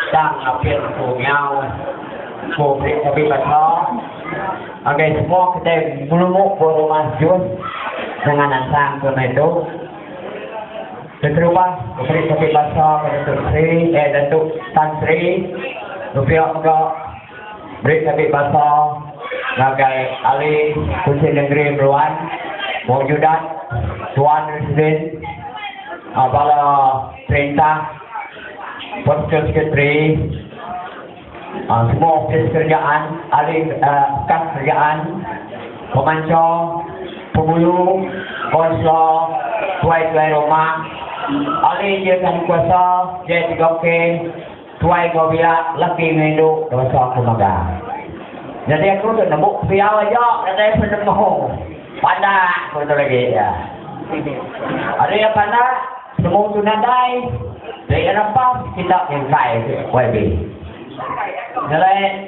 Tang apil ku nyau ku beli kopi baca ngagai semua kitai melumu ku rumah jus dengan nansang ku naitu keterubah ku beli kopi baca ke Datuk Sri eh Datuk Tan Sri Rupiok mega Beri Nabi Basa ngagai Ali Kunchit Nengeri Meruan, Maujudat, Tuan Residen, Bala Perintah, Postal Sekretari, Semua Opis Kerajaan, Ahli Kas Kerajaan, Pemancha, Pengulu, Konsla, Tuai-tuai Rumah, Ahli Jayatankuasa, JTKOK, Tuai ko pia laki enggau indu dosa aku mega. Nyadi aku tu nemu pia aja nadai penemu. Pandak ko tu agi iya. Ari iya pandak penemu tu nadai ri iya lepas kita nyengkai YB. Nyerai.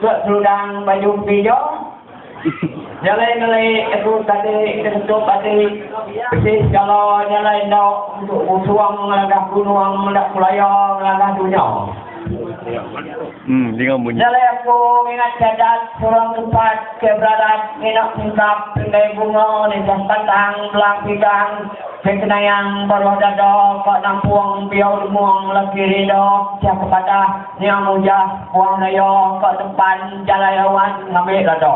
Ke seludang baju empi jo. Nyalai ngelai aku tadi tentu ati bisi segala nyalai enda untuk ngusung ngelagah gunung enda kulaya ngelagah dunya. Nyalai aku ngingat Cadat seorang tempat ke beradat ngena singkap pinggai bunga nisah batang belang pigang ke kenayang baruh dada ka nampung biau lemung laki rinda pecah ke padah Nya mujah puang daya ka tempan jalai awan ngambi lada.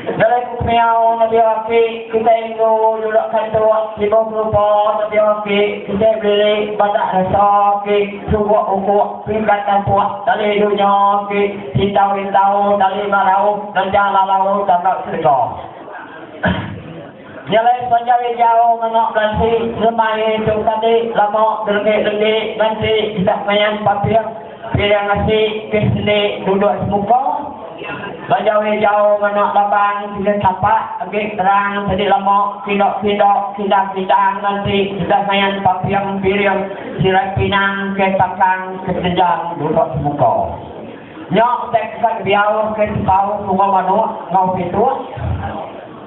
Jalai ku kemiau nebia aki kitai indu julak kantuk tibuh kelupa nebia aki kitai belilik badak resa aki suguk ukuk pingkat tampuk tali dunya aki sintau-intau tali marau ngeja lalau tangga serega. Nya alai sepanjang ari jauh nganga belansi ngemai tu tadi lama belendik-lendik nganti kitak mayan paping piring asi ke sendi duduk semuka bajau iya jauh nganga laban kena tapak agi terang tadi lama kinda-kinda kindang-kindang nganti kitak mayan paping piring sirai pinang ke takang ke tejang duduk semuka nya utai kekat biau ke sepau sunga manuk ngau pituk.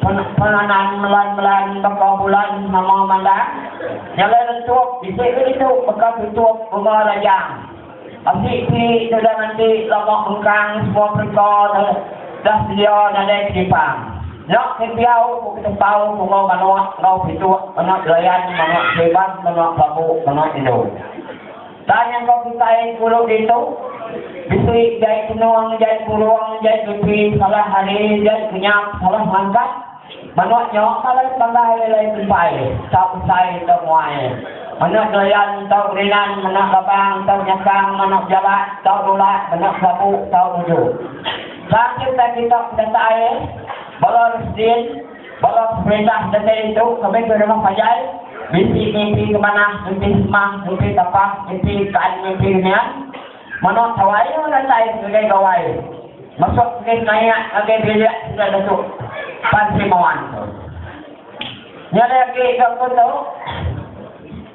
Penanam melan melan baka bulan nama mandang nyalai lentuk bisi ke ditu baka tutup rumah rajang. Asi ti tudah nganti lama mengkang semua pereka tu dah sedia nadai kedipan. Nya ke diau ku ketempau bunga manuk enggau pituk manuk derayan manuk seriban manuk bambu manuk indu. Tang nyangka kitai pulu ditu, bisi jai tenung, jai purung, jai pipi, salah hari, jai kenyap, salah mangkat. Manuk nya malai pandai alai kumpai, tau besai tau muai. Manuk doyan tau berinan, manuk labang tau nyakang, manuk jalak tau nulak, manuk kelabu tau nuju. Tang cerita kitok pedatai, bala residin. Bala pemerintah ngereja indu ke bengkoi rumah panjai bisi mimpi ke manah, mimpi semah, mimpi tapah, mimpi kaan mimpi remian. Manah tawai nya datai ngagai gawai mesuk enggai senayak ngagai bilik sida netu pan Sri Mawan tu. Nya alai agi ga ku tu.